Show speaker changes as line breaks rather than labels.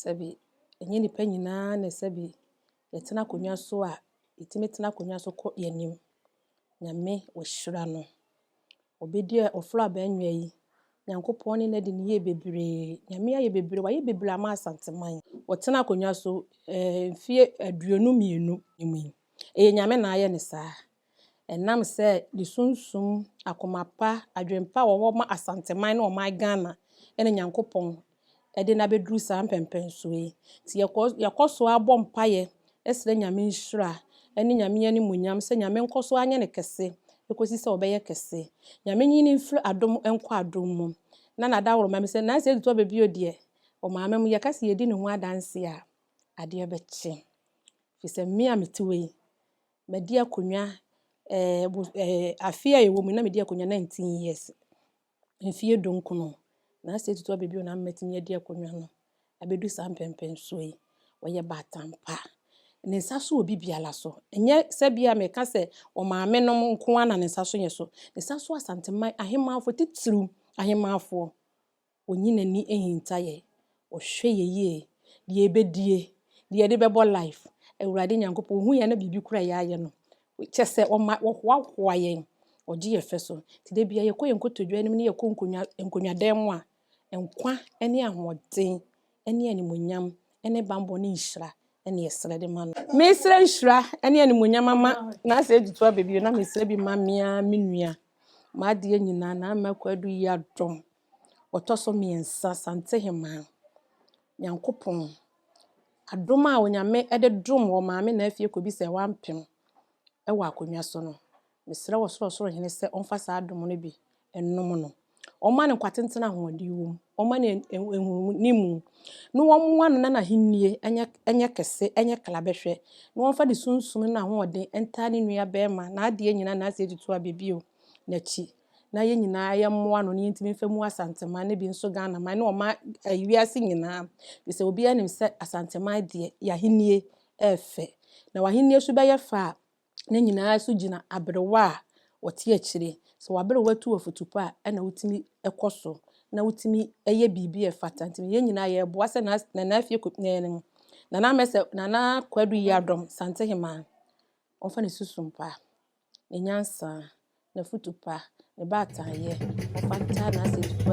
Sɛbi, ɛnyɛ nnipa nyinaa na ɛsɛ bi yɛtena akonnwa so a, yɛtumi tena akonnwa so kɔ yɛn anim. Nyame ɔhyira no. Obi deɛ ɔforo aba anwia yi, Nyankopɔn ne no adi ne yie bebree. Nyame ayɛ bebree, wayɛ bebree ama Asanteman. Ɔtena akonnwa so ɛɛ mfeɛ aduonu mmienu mu yi, ɛyɛ Nyame na ayɛ no saa. Ɛnam sɛ ne sunsum, akoma pa, adwene pa a ɔwɔ ma Asanteman ne ɔman Ghana na Nyankopɔn de no abɛduru saa mpɛnpɛnsoɔ yi. Nti yɛkɔ yɛkɔ so ara bɔ mpaeɛ srɛ Nyame nhyira ne Nyame animuonyam sɛ Nyame nkɔ so ara nyɛ no kɛse kɔsi sɛ ɔbɛyɛ kɛse. Nyame nyi no mfiri adom nkɔ adom mu. Na n'adaworoma mu sɛ nansa adi tɔ bɛ bio deɛ, wɔ Maame mu yɛka sɛ yɛdi ne ho adanseɛ a, adeɛ bɛkye. Firi sɛ me a mete hɔ yi, madi akonnwa, eh, eh, afe a yɛwɔ mu na medi akonnwa 19 years. Mfie dunkron. Na asɛ tutu abɛbi na mmatumi adi akonnwa no. Abɛdu saa mpɛmpɛnsoɔ yi. Ɔyɛ batampa. Ne nsa so wɔ bibiara so. Ɛnyɛ sɛ bi a meka sɛ ɔmaame nom nko ara na ne nsa so yɛ so. Ne nsa so asantema ahemmanfoɔ titiriw ahemmanfoɔ Ɔnyi n'ani nhinta yɛn. Ɔhwɛ yɛn yie. Deɛ yɛbɛdie, deɛ yɛde bɛbɔ life. Awurade Nyankopɔn, Ɔhu yɛn na biribi kura yɛn ayɛ no. Kyɛ sɛ, Ɔma, Ɔhoahoa yɛn. Ɔgye yɛn fɛ so. Nti da biara yɛkɔ yɛn nkotodwe anim ne yɛkɔ nkonnwa, nkonnwa dan mu a, nkwa ne ahoɔden ne animuonyam ne bammɔ ne nhyira na yɛsrɛ de ma No. Mesrɛ nhyira ne animuonyam ama Nasa Agyito aba bio na mesrɛ bi ma me ara me nua. M'adeɛ nyinaa, Nana Kwaku Addo Yiadom. Ɔtɔ so mmiɛnsa, Santehemaa, Nyankopɔn adom a Onyame de dom wɔ Maame Naa fie kɔbi sɛ wampem wɔ akonnwa so no, mesrɛ wɔ Sorosoro Hene sɛ ɔmfa saa adom no bi nnom no. Ɔmma no nkwatenten a ahoɔden wom, ɔmma no nhunumu, na ɔmmoa no na n'ahennie nyɛ kɛse, nyɛ klabɛhwɛ, na ɔmfa ne sunsum ne n'ahoɔden ntaa ne nua barima, n'adeɛ nyinaa, n'ase tutuabɛ bio, n'akyi. na yɛn nyinaa yɛmmoa ano na yɛntumi mfa mu Asanteman ne bi nso Ghanaman ne ɔman ɛyi wiase nyinaa firi sɛ obiara nim sɛ Asanteman deɛ y'ahennie ɛɛfɛ na w'ahennie nso bɛyɛ fɛ a ne nyinaa nso gyina aberewa a ɔte akyire sɛ w'aberewa tu afotupɔ a ɛna wotumi ɛkɔ so na wotumi ɛyɛ biribi a ɛfata nti yɛn nyinaa yɛɛboa sɛ na nana afie kɔ ɛɛ no nana mɛsɛ nana kwadu yiadɔm Santehemaa wɔmfa ne susumpa. Ne nyansa, n'afotu pa, ne baataayɛ, ɔfata n'asɛmti pa